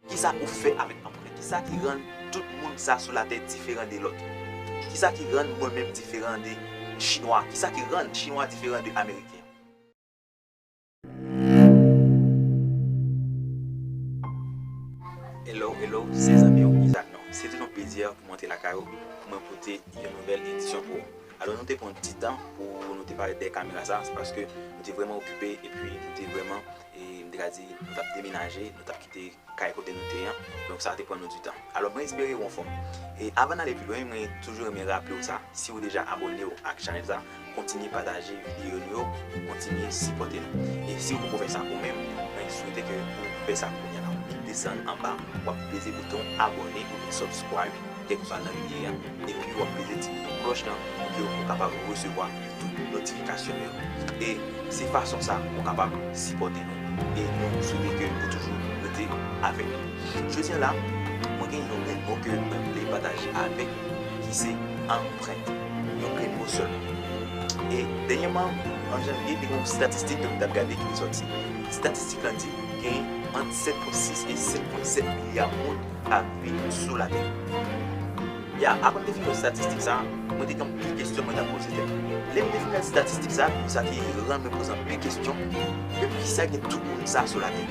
Kisa ou fè avèk anprent? Kisa ki rann tout moun sa sou latè diferan de lòt? Kisa ki rann mwen menm diferan de chinwa? Kisa ki rann chinwa diferan de ameriken? Hello hello se zanmi ou Isaac Nord. Se toujou yon plezi pou mwen te lakay ou pou mwen pote yon nouvèl edisyon pou ou. Alò nou te pran ti tan pou nou te parèt dèyè kamera sa, se paske nou te vrèman okipe epi nou te vrèman E m te ka di, nou t ap demenaje, nou t ap kite kay kote nou te an, donk sa te pran nou di tan. Alò mwen espere ou anfòm. E avan n ale pi lwen, mwen toujou renmen raple ou sa, si ou deja abòne ou ak chanèl sa, kontinye pataje videyo nou yo pou kontinye sipòte nou. E si ou poko fè sa ou menm, mwen swete ke ou fè sa kounya la. Desann anba, w ap peze bouton abòne oubyen subscribe. Kèk pa nan lye a, epi wap peze ti bouton klòch lan pou ke ou kapab resevwa tout notifikasyon nou yo. E se fason sa ou kapab sipòte nou e nou swete ke ou toujou rete avèk nou. Jodi an la, mwen gen yon grenn mo ke mwen vle pataje avèk nou ki se anprent. Yon grenn mo sèlman. E dènyèman, an janvye, te gen yon statistik ke mwen tap gade ki te sòti. Statistik lan di gen ant 7.6 e 7.7 milya moun kap viv sou la tè. Ya avan m te fin wè statistik sa, mwen te gen anpil kestyon mwen tap poze tèt mwen. Lè m te fin gad statistik sa, sa te rann mwen poze anpil kestyon, men poukisa gen tout moun sa sou la tè?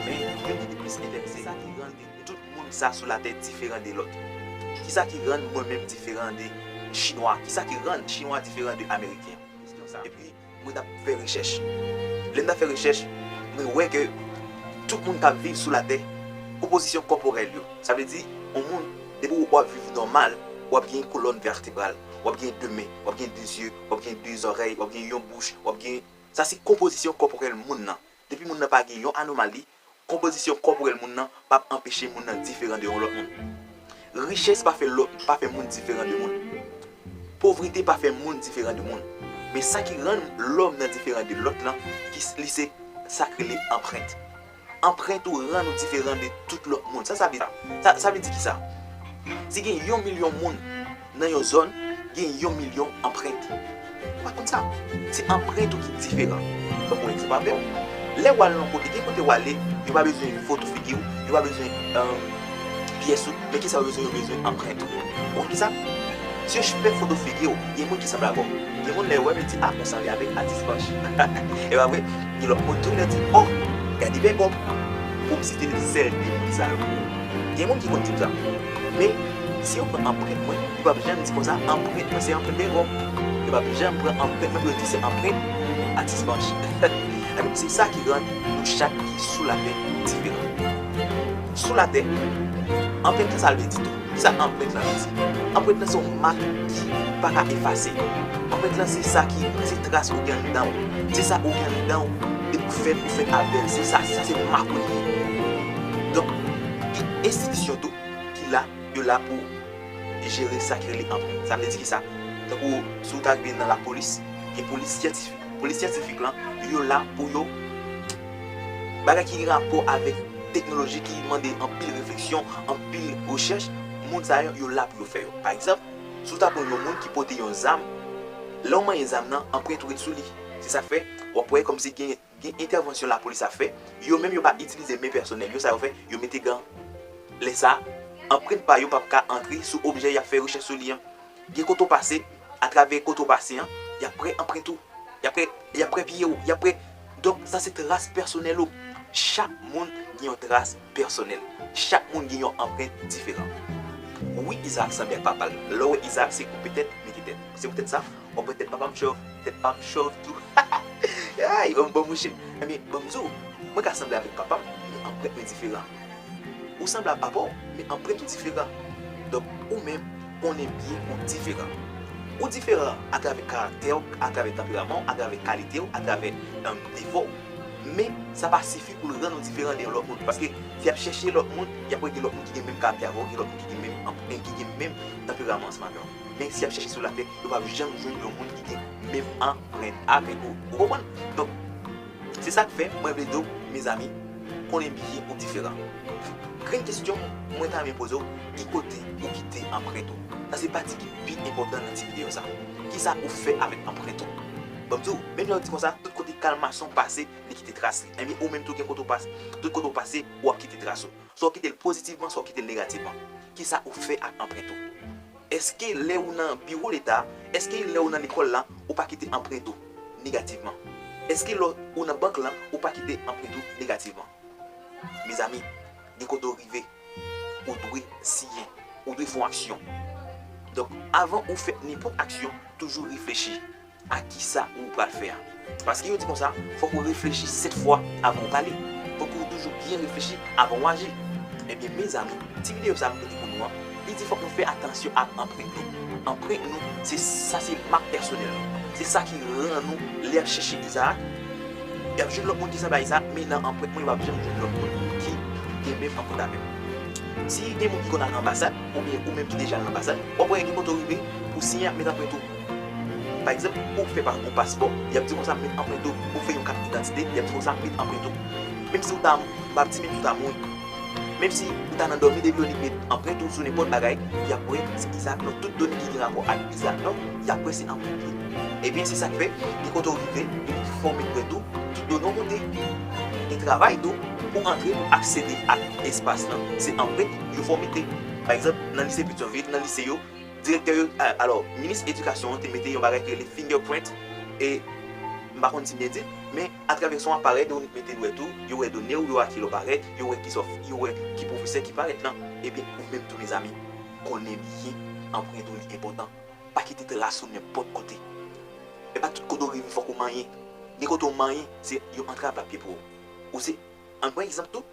Men yo ki te plis enterese sa ki rann de tout moun sa sou la tè diferan de lòt. Kisa ki rann mwen menm diferan de chinwa? Kisa ki rann chinwa diferan de ameriken? Epi Mwen tap fè rechèch. Lèm tap fè rechèch, mwen wè ke tout moun kap viv sou latè, konpozisyon kòporèl yo, sa vle di yon moun depi ou wap viv nòmal, wap gen yon kolòn vètebral, wap gen 2 men, wap gen 2 zye, wap gen 2 zòrèy, wap gen yon bouch, wap gen, sa se konpozisyon kòporèl moun nan. Depi moun nan pa gen yon anomali, Konpozisyon kòporèl moun nan pa p anpeche moun nan diferan de yon lòt moun. Richès pa fè lòt pa fè moun diferan de moun. Povrete pa fè moun diferan de moun. Men sa ki rann lòm nan diferan de lòt lan ki li se sa k rele anprent. Anprent ou rann ou diferan de tout lòt moun. Sa sa vle di? Sa vle di ki sa? Si gen yon milyon moun. Nan yon zòn, gen yon milyon anprent. Ou pa konn sa? Se anprent ou ki diferan. Ban mwen egzanp avè w. Lè w al yon kote, gen kote w ale, yo pa bezwen foto figi w, yo pa bezwen pyès ou, men kisa yo bezwen, yo bezwen anprent ou. Ou konn kisa? Si yo fè foto figi w, gen moun ki sanble avè w. Gen moun lè yo wè m, yo di, a, ou sanble avèk atis Panch. E pa vre? Gen lòt moun tou, lè yo di, o, gade bègòm. Pou m site sèl de moun sa yo. Gen moun ki konn di m sa. Men. Si yo pran anprent mwen, yo pap janm di konsa anprent mwen se anprent Bero. Yo pap janm pran anprent mwen pou yo di se anprent Atis Banch. Ebyen se sa ki rann nou chak ki sou latè diferan. Sou latè, anprent lan sa l vle di tou? Kisa anprent lan vle di? Anprent lan se yon mak ki pa ka efase. Anprent lan se sa ki, se tras ou gen anndan ou. Se sa ou gen anndan ou depi ou fèt, ou fèt avè l. Se sa, se sa se mak ou li ye. Donk, gen enstitisyon tou. ki la, yo la pou jere sa ki rele anprent. Sa vle di kisa? Tankou si ou ta rive nan lapolis, gen polis syantifik. Polis syantifik lan, yo la pou yo bagay ki gen rapò avèk teknoloji ki mande anpil refleksyon, anpil rechèch, moun sa yo, yo la pou yo fè yo. Pa egzanp, si ou ta pran yon moun ki pote yon zam, lè ou manyen zam nan, anprent ou ret sou li. Se sa k fè, w ap wè kòmsi gen Gen entèvansyon lapolis ap fè, yo menm yo pa itilize men pèsonèl yo, sa yo fè, yo mete gan. Lè sa, anprent pa yo pap ka antre sou objè y ap fè rechèch sou li an. Gen kote w pase, atravè kote w pase an, y ap pre anprent ou, y ap y ap pre pye w, y ap pre. Donk sa se tras pèsonèl ou. Chak moun gen yon tras pèsonèl. Chak moun gen yon anprent diferan. Wi Izaak sanble ak papa l. Lè w wè Izaak se koupe tèt, mete tèt. Se poutèt sa, Bon pwetèt papam chòv, tèt pam chòv tou hahaha Yon bon mouche Ebyen banm di w Mwen ka sanble avèk papam men anprent mwen diferan Ou sanble a papa w men anprent ou diferan Donk ou menm konnen byen ou diferan Ou diferan atravè karaktè w, atravè tanperaman w, atravè kalite w, atravè defo w Men sa pa sifi pou l rann ou diferan de yon lòt moun Paske si y ap chèche lòt moun y ap wè gen lòt moun ki gen menm karaktè avè w, gen lòt moun ki gen menm anprent, ki gen menm tanperaman ansanm avè w. Men si yap chèche sou latè yo pap janm jwenn yon moun ki gen menm anprent avek ou ou konprann donk se sak fè mwen vle diw mezanmi konnen byen ou diferan grenn kesyon mwen ta renmen pozew ki kote ou kite anprent ou sa se pati ki pi enpòtan nan ti video sa kisa ou fè avek anprent ou banm diw menm jan ou di konsa tout kote kalmason pase li kite tras li ebyen ou menm tou gen kote ou pase tout kote ou pase wap kite tras ou. Sa w kite l pozitivman, sa w kite l negativman. Kisa ou fè ak anprent ou? Eske lè ou nan biwo leta, eske lè ou nan lekòl la, ou pa kite anprent ou negativman? Eske lè ou nan bank la, ou pa kite anprent ou negativman? Mezanmi, gen kote ou rive, ou dwe siyen, ou dwe fè yon aksyon. Donk, avan ou fè nenpòt aksyon, toujou reflechi. A kisa ou pral fè a. Paske yo di konsa, fòk ou reflechi 7 fwa avan ou pale. Fòk ou toujou byen reflechi avan ou aji. Ebyen mezanmi, ti videyo sa m pote pou nou an, li di fòk nou fè atansyon ak anprent nou. Anprent nou, se sa se mak pèsonèl nou. Se sa ki ran nou lè y ap chèche Izaak, y ap jwenn lòt moun ki sanble a Izaak, men nan anprent mwen yo pap janm jwenn lòt moun ki gen menm anprent avè m. Si gen moun ki konn al anbasad, oubyen ou menm ki deja al anbasad, w ap wè gen kote w rive, ou siyen ak met anprent ou. Pa egzanp, ou fè pa gwo paspò, y ap di w konsa met anprent ou, ou fè yon kat idantite, y ap di w konsa met anprent ou. Menm si ou ta, m pa ap di menm si ou ta mouri, menm si ou ta nan dòmi depi yo di met anprent ou sou nenpòt bagay, y ap wè se egzat non tout done ki gen rapò ak egzat non, y ap wè se anprent li. Ebyen se sa k fè gen kote ou rive depi ki fòm enprent ou, tout done ou moute, gen travay tou pou antre pou aksede ak espas lan, se anprent yo fè w mete. Pa egzanp, nan lise Petyonvil, nan lise yo. Direktè yo, alò, minis edikasyon an te mete yon bagay ki rele finger print e, m pa konn si m byen di, men atravè son aparèy Dominik mete dwèt ou, yo wè done ou yo a ki lè w parèt, yo wè ki sa w fè, yo wè ki pwofesè ki parèt lan, ebyen ou menm tou mezanmi, konnen byen anprent ou li enpòtan. Pa kite tras ou nenpòt kote. E pa tout kote ou rive fòk ou manyen. Gen kote ou manyen, se yon antrav l ap ye pou ou. Ou se, an n pran egzanp tou,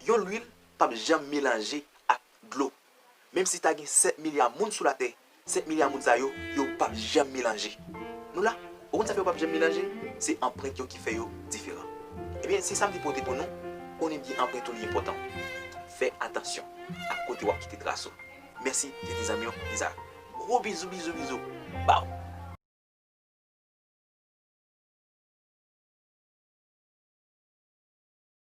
yon lwil p ap janm melanje ak dlo. Menm si ta gen 7 milya moun sou latè, 7 milya moun sa yo, yo pap janm melanje. Nou la, ou konn sa fè yo pap janm melanje? Se anprent yo ki fè yo diferan. Ebyen, se sa m te pote pou nou, konnen byen anprent ou li enpòtan. Fè atansyon ak kote w ap kite tras ou. Mèsi, se te zanmi w, Izaak. Gwo bizou bizou bizou ba w!